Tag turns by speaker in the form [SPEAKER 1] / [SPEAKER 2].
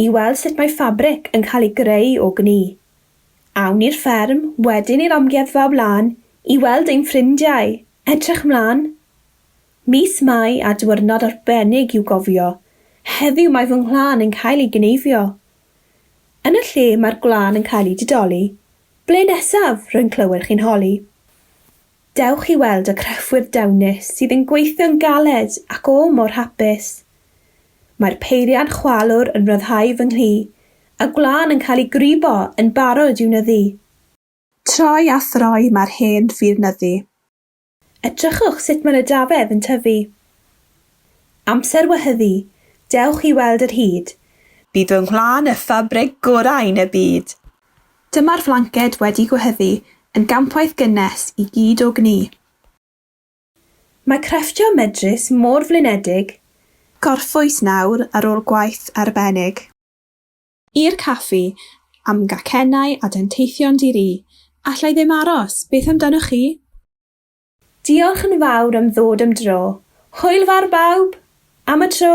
[SPEAKER 1] I weld sut mae ffabric yn cael ei greu o gni. Awn i'r fferm, wedyn i'r amgueddfa o blaen i weld ein ffrindiau! Edrych 'mlan! Mis Mai a diwyrnod arbennig i'w gofio, heddiw mae fy nghlân yn cael ei gneifio. Yn y lle mae'r gwlân yn cael ei didoli, ble nesaf, rwy'n clywed chi'n holi. Dewch i weld y crefftwyr dewnus sydd yn gweithio'n galed ac o mor hapus. Mae'r peiriant chwalwr yn rhyddhau fy nghlu, a gwlân yn cael ei gwrybo yn barod i'w nyddu. Troi a throi mae'r hen fir nyddu. Edrychwch sut mae'r edafedd yn tyfu. Amser wehyddu, dewch i weld yr hud. Bydd fy nghwlân y ffabrig gorau yn y byd. Dyma'r flanced wedi gwehyddu yn gampwaith gynnes i gyd o gni. Mae crefftio medrus mor flinedig. Gorffwys nawr ar ôl gwaith arbennig. I'r caffi, am gacennau a denteithion di-ri. Alla i ddim aros, beth amdanoch chi? Diolch yn fawr am ddod am dro. Hwyl fawr bawb! Am y tro!